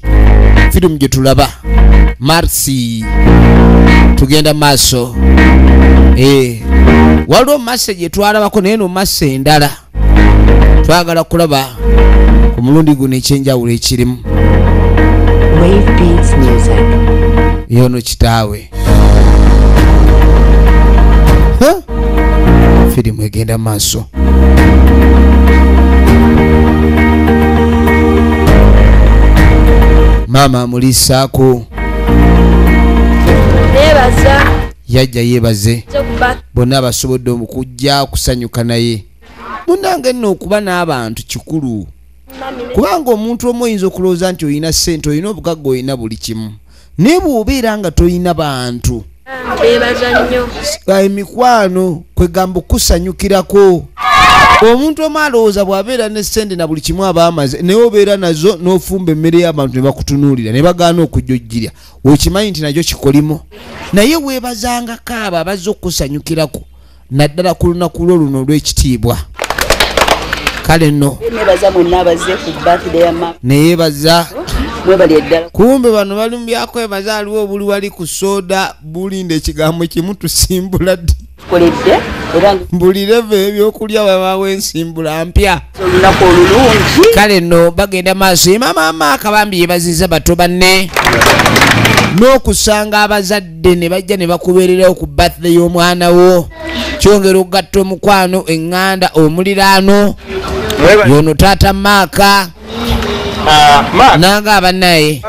firimu gye tulaba marsi tugenda maaso eh, waliwo masi gye twalabako naye no masi endala twagala kulaba ku mulundi guno ekyenjawulo ekirimu yono kitaawe firimu egenda maaso maama amuliisaako yajja yeebaze bonna abasobodde okujja kusanyuka naye munange nno okuba n'abantu kikulu kubanga omuntu omu oyinza okulowooza nti olina ssente olina obugagga olina buli kimu naye bwobeera nga tolina bantu emikwano kwegamba okusanyukirako omuntu omu alowooza bw'abeera ne sente na buli kimu aba amaze naye obeera nazo n'ofumba emmere y'abantu ne bakutunuulira ne bagaana okujojjirya okimanyi nti nakyo kikolimo naye weebazangako abo abazze okukusanyukirako naddala ku lunaku lwo luno olw'ekitiibwa kale no neyebaza kumbe bano bali mu byakwebaza aliwo obuli wali ku soda bulinda ekigambo kimu tusimbula ddi buli leva ebyokulya babawo ensimbula mpya kale no bagenda maaso emamaama akabambi yebaziza bato banne n'okusanga abazadde abazadde ne bajja ne bakubeererawo ku birthday y'omwana wo kyongera okugatta omukwano eŋŋanda omuliraano yono taata maaka Ah, nanga abanaye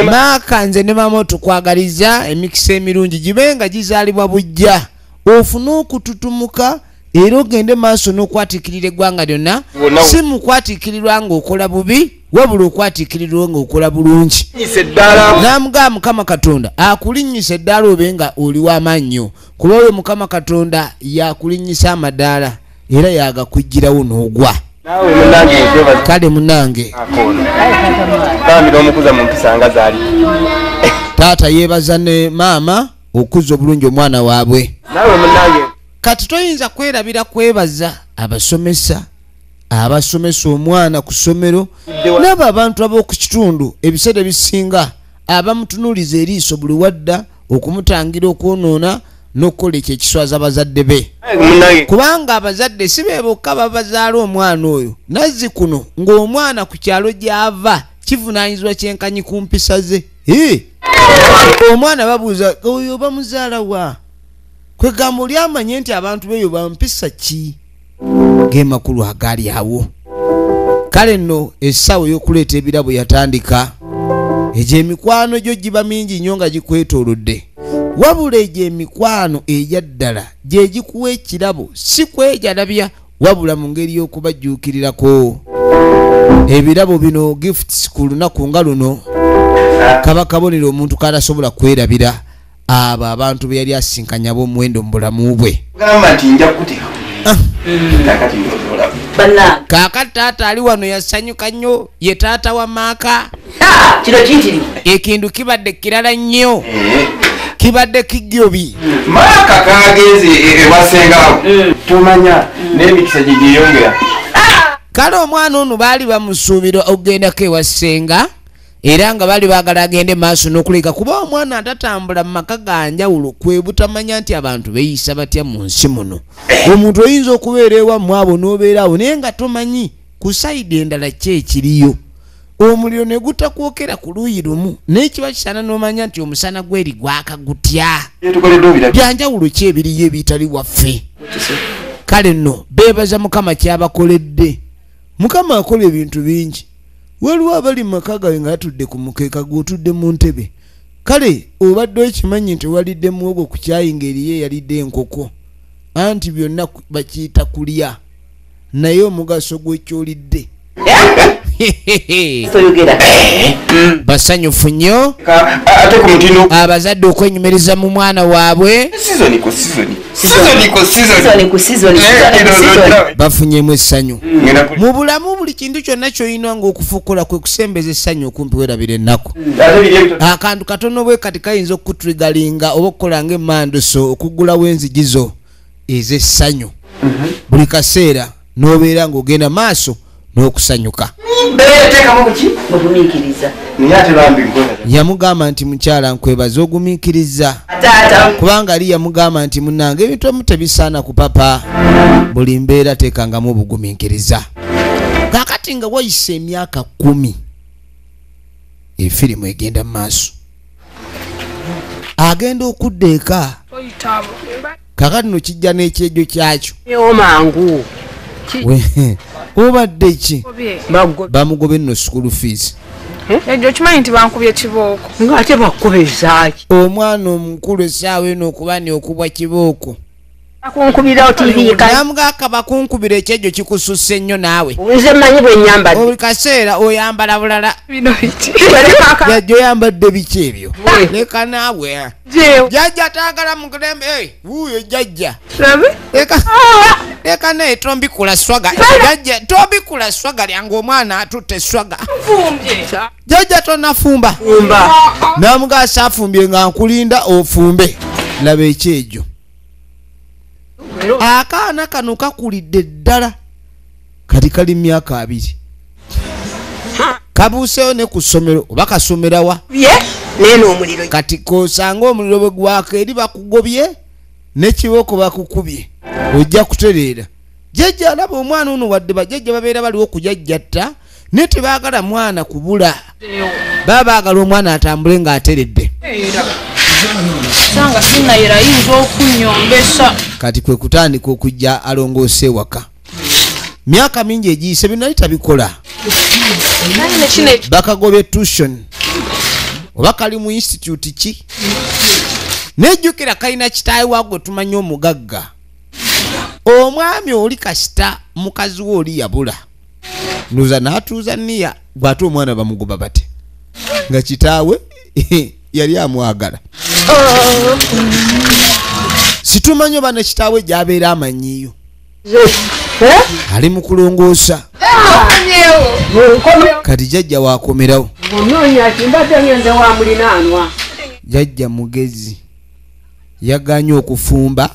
maaka nze ne mama tukwagaliza emikisa emirungi gibe nga gizalibwa bujja ofune okututumuka era ogende maaso n'okwatiikirira eggwanga lyonna si mu kwatiikirirwa ng'okola bubi wabula okwatiikirirwa ng'okola bulungi n'amugaba mukama katonda akulinnyisa eddaala obe nga oli w'amaannyo kuba oyo mukama katonda yakulinnyisa amadaala era yagakuggyirawo n'ogwa kale munange taata yeebaza ne maama okuzza obulungi omwana waabwe kati toyinza kwerabira kwebaza abasomesa abasomesa omwana ku ssomero n'abo abantu ab'oku kitundu ebiseera ebisinga abamutunuuliza eriiso buli wadda okumutangira okwonoona n'okukola ekyo ekiswaza bazadde be kubanga abazadde si be bokka babazaala omwana oyo nazzi kuno ng'omwana ku kyalo gy'ava kivunaanyizibwa kyenkanyi ku mpisa ze omwana babuuza oyo bamuzaala wa kwegamba oli amanye nti abantu beeyo bampisa ki gemakulu agali awo kale nno essaawa ey'okuleeta ebirabo yatandika egyo emikwano gyo giba mingi nnyo nga gikwetoolodde wabula egyo emikwano egyaddala gye gikuwa ekirabo si kwejalabya wabula mu ngeri y'okubajjuukirirako ebirabo bino gifts ku lunaku nga luno kaba kabonero omuntu katasobola kwerabira abo abantu be yali asinkanya b'omuwendo mu bulamu bwe ah. kaakati taata ali wano yasanyuka nnyo ye taata wa maaka kino kitiri ekintu kibadde kirala nnyo eh. kibadde kijjobi maaka kagenze ewasengawo e, e mm. tumanya mm. n'emikisa gye gyeyongera ah! kale omwana ono baali bamusuubira okugendako ewasenga era nga bali bagala agende maaso nokuleka kuba omwana atatambula mu maka ganjawulo kwebutamanya nti abantu beyisa batya mu nsi muno omuntu oyinza okubeera ewamu abo nobeera awo naye nga tomanyi ku sayidi endala ki ekiriyo omuliro ne gutakwokera ku luuyi lumu naye kiba kisaana n'omanya nti omusana gweri gwaka gutya byanjawulo ki ebiriyo ebitali waffe kale nno beebaza mukama kyabakoledde mukama akola ebintu bingi waliwo abali mu maka gawe nga atudde ku mukeeka gw'otudde mu ntebe kale obadde okimanyi nti walidde muwogo ku kyayi ng'eriyo eyalidde enkoko anti byonna bakiyita kulya naye omugaso gwekyolidde basanyufu nnyo abazadde okwenyumiriza mu mwana waabwe bafunyemu essanyu mu bulamu buli kintu kyonna kyolina ngaokufukula kwe kusembeza essanyu okumpi werabira ennaku akantu katono bwe kati kayinza okukutrigalinga oba okukola nga emanduso okugulawo enzigi zo ez'essanyu mhm. buli kaseera n'obeera ng'ogenda maaso n'okusanyuka yamugamba nti mukyala nkwebaza ogumiikiriza kubanga ali yamugamba nti munange ebintu emu tebisaana ku papa buli mbeera teekangamu obugumiikiriza kakati nga wayise emyaka kumi efirimu egenda mu maaso agenda okudda eka kakati no kijja n'ekyejo kyakyo mangu obadde ki bamugobe nno school fees eh? ekyo okimanyi nti bankubye kibooko ngaate bakubezaki omwana omukulu esaawa eno okuba ni okubwa kibooko bakunkubira otiviika namuga kabakunkubira ekyejo kikususse nnyo naawe nze manyi bwenyambadde buli kaseera oyambala bulala jajja oyambadde biki ebyo leka naawe jajja taagala mukulembe wuuyo jajja leka naye tombikula swaga jajja tombikula swaga lyange omwana atutte swaga jajja tonafumba namugasa afumbye nga nkulinda ofumbe laba ekyejo akaana kano kakulidde ddala kati kali myaka abiri kabuuseyo ne ku ssomero oba kasomerawa kati kosanga omuliro bwe gwaka eri bakugobye nekibooko bakukubye ojja kutereera jajja alaba omwana ono wadde bajajja babeera baliwo kujajjatta naye tebaagala mwana kubula baba baagala omwana atambule ng'ateredde kati kwe kutandika okujja alongoosa ewaka myaka mingi egiyise binali tabikola bakagobye tution oba kali mu institute ki nejjukira kalina kitaayi wagwe tumanya omugagga omwami oli kasita mukazi we oli yabula nuza natuuza niya gwate omwana bamugoba bate nga kitaawe yali amwagala situmanyo bana kitaawe gyabeera amanyiyo ali mu kulongoosa kati jajja wakomerawo jajja mugezi yaganye okufumba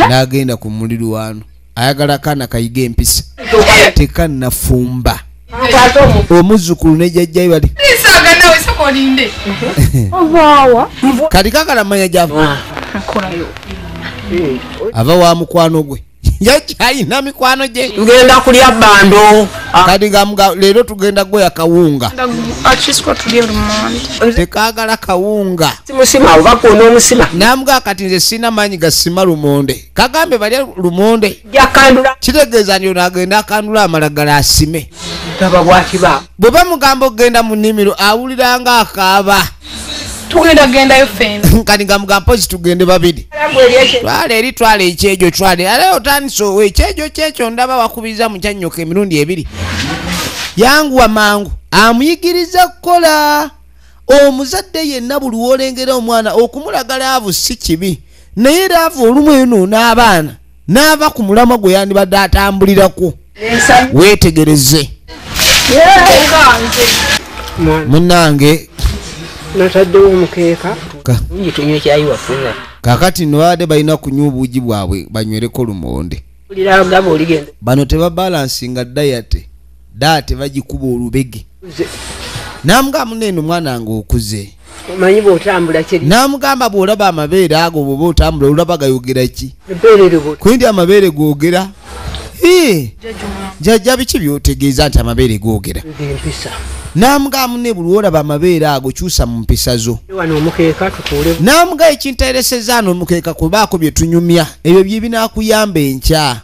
n'agenda ku mulirwano ayagala kaana kayiga empisa tekannafumba omuzukulu ne jajjayo bali kati kakala manya gyava ava wa mukwano gwe yakyalina mikwano gye tugenda kulya bando ah. kati gamuga leero tugenda gweya kawunga tekagala kawunga namuga kati nze sirina maanyi gasima lumonde kagambe balya lumonde kitegeeza nti ono agenda akandula amalagala asime bwe bamugamba okugenda mu nnimiro awuliranga akaaba tugenda gendayo fena kani gamuga mpozi tugende babiri twala eri twala ekyejo twala era otandise owo ekyejo kyekyo ndaba wakubiza mukyanyoka emirundi ebiri yanguwa mangu amuyigiriza kukola omuzadde yenna buli wolengera omwana okumulagala avu si kibi naye era avu olumu eyo noona abaana n'ava ku mulamwa gwe yandibadde atambulirako weetegereze munange nataddewo omukeeka tunywe kyayi wafuna kakati no baade balina kunywa obuugi bwabwe banywereko lumonde bano tebabalansinga dayate daa tebagikuba olubege namugamu neno mwana nga okuze omanyi bwotambula kiri namugamba bwolaba amabeere ago bwoba otambula olaba gayogera ki kundi amabeere gogera jajja biki byotegeeza nti amabeere gogera namugamu ne buli wolaba amabeere ago kyusa mu mpisa zo namuga ekintereseza ano omukeeka kubaako byetunyumya ebyo byebinakuyamba enkya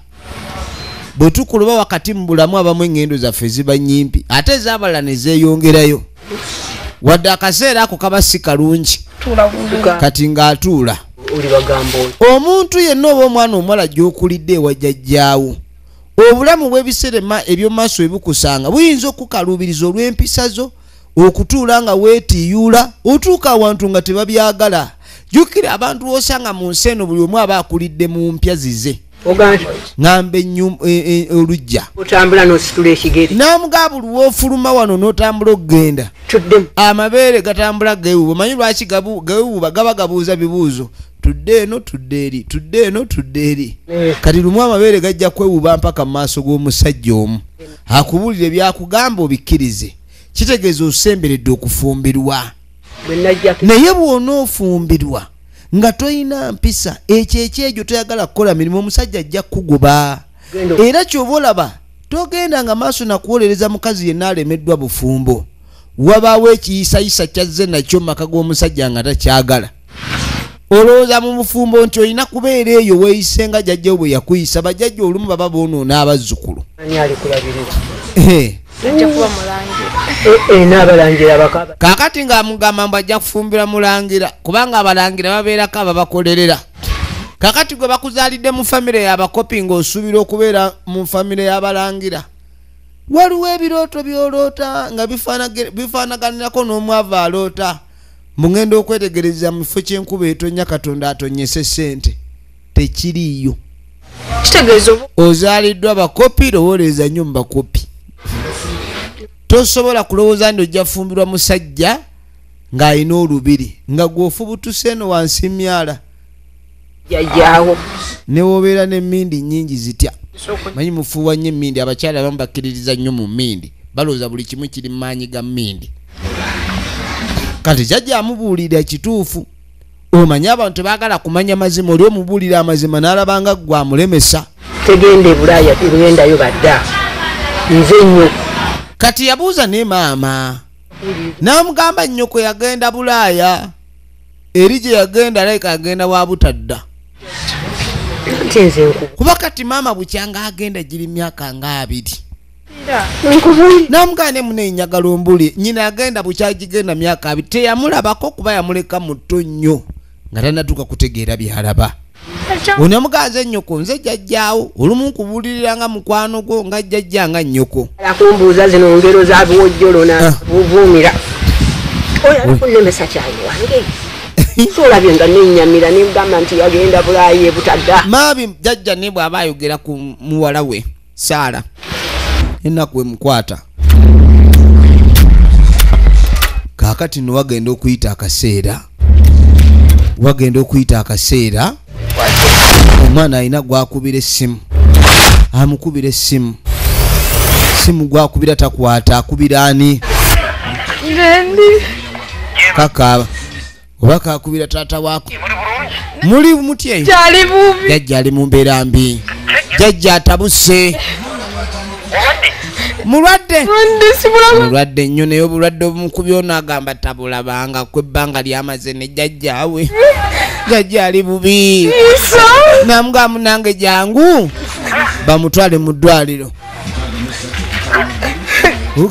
bwe tukuluba wakati mu bulamu abamu eŋŋendo zaffe ziba nnyimpi ate ez'abalala ne zeeyongerayo wadde akaseera ako kaba si kalungi kati ng'atuula omuntu yenna oba omwana omuwala gy'okulidde ewa jjajjaawo obulamu bw'ebiserema eby'omumaaso bwe bukusanga buyinza okukaluubiriza olw'empisa zo okutuula nga weetiiyuula otuuka awantu nga tebabyagala jjukira abantu osanga mu nsi eno buli omu aba akulidde mu mpya zize ngamba e, e, olujja namugaba luwofuluma wano notambula okugenda amabeere gatambula gewuba manyi lwaki gewuba gaba gabuuza bibuuzo tudde eno tudde eri tudde eno tudde eri eh. kati lumu amabeere gajja kwewuba mpaka mu maaso g'omusajja omu akubuulire byakugamba obikkirize kitegeeza osemberedde okufumbirwa naye bw'onoofumbirwa nga toyina mpisa ekyo ekyejo toyagala kukola mirimu omusajja ajja kukugoba era kyoba olaba togenda nga maaso nakuwolereza mukazi yenna alemeddwa bufumbo wabaawo ekiyisayisa kyazze nakyo maka g'omusajja nga takyagala olowooza mu bufumbo nti olina kubeera eyo weeyise nga jajjawo bwe yakuyisa bajajja olumu baba boonoona abazzukulu kakati nga amugamba mbu ajja kufumbira mulangira kubanga abalangira babeerako ababakolerera kakati gwe bakuzaalidde mu famire yabakopi nga osuubira okubeera mu famire y'abalangira waliwo ebirooto byoloota nga bifaanaganirako n'omwavu aloota mungenda okwetegereza mu kifo ky'enkuba etonya katonda atonyese ssente tekiriiyo ozaaliddwa bakopi lowooleza nnyo mu bakopi tosobola kulowooza nti ojja fumbirwa musajja ng'alina olubiri nga gw'ofubutuse eno wansi myala jajaawo newobeera nemindi nyingi zitya manyi mufuuwa nnyo emindi abakyala abamu bakkiririza nnyo mu mindi balowooza buli kimu kiri maanyi ga mindi kati kyajja amubuulira kituufu omanyi abantu tebagala kumanya mazima oli omubuulira amazima n'alabanga gwe amulemesa tegenda ebulaaya tegendayo badda nze nnyo kati yabuuza ne maama n'amugamba nnyoko yagenda bulaaya eri gye yagenda alayika agenda wa butadda kuba kati maama bukyanga agenda giri myaka nga abiri namugane mune njagala ombuli nyina yagenda bukyagigenda myaka abi teyamulabako kuba yamuleka muto nnyo nga tanatuuka kutegeera byalaba one muganze nnyoko nze jjajjaawo olumu nkubulirira nga mukwano gwo nga jjajja nga nnyoko akumbuuza zino ngero zabiwojjolo nabuvuumira ah. oyo alikunemesa kyayi wange solabye nga nenyamira nemugamba nti yagenda bulayi ebutadda maabi jjajja ne bw'aba ayogera ku muwala we saala enaku emukwata kakati no wagenda okuyita akaseera wagenda okuyita akaseera omwana alina gwakubira essimu amukubira essimu simu gwakubira takwata akubira ani kaka oba kakubira taata waako muli mutya eyo jajja ali mu mbeera mbi jajja atabuse mulwadde mulwadde nnyo naye obulwadde obumukubi ono agamba tabulabanga ku ebbanga lyamaze ne jajjaawe jajja ali bubi namugamu nange jangu bamutwale mu ddwaliro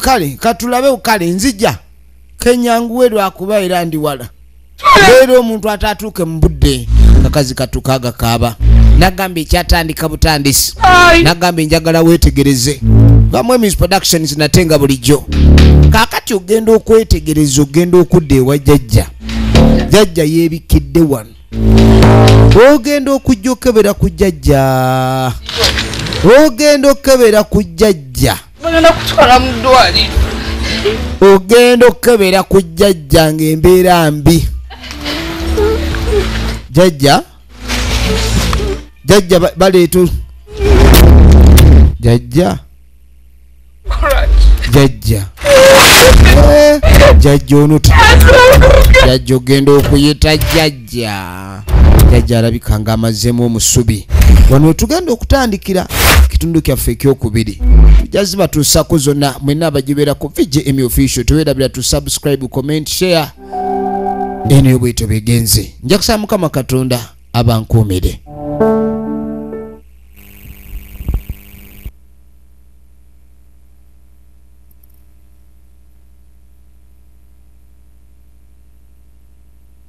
kale katulabe kale nzija kenyanguwe lwakuba era ndi wala era omuntu atatuuke mu budde kakazi katuka agakaaba nagamba ekyatandika butandisi nagamba enjagala wetegereze bamu emis productions nate nga bulijjo kakati ogenda okwetegereza ogenda okudda ewa jajja jajja yebikidde wano ogenda okujja okebera ku jajja ogenda okebera ku jajja bagenda kutwala mu ddwaliro ogenda okukebera ku jjajja ng'embeera mbi jjajja jjajja baleetu jjajja jjajja jjajja onuta jjajja ogenda okuyita jjajja jajja jajja alabika nga amazeemu omusubi wano wetugenda okutandikira kitundu kyaffe ekyokubiri tujja zibatuusako zonna mwena abagibeera ku vgm official tewerabira tu subscribe comment share eno yo bwetyo begenze nja kusaba mukama katonda abankuumire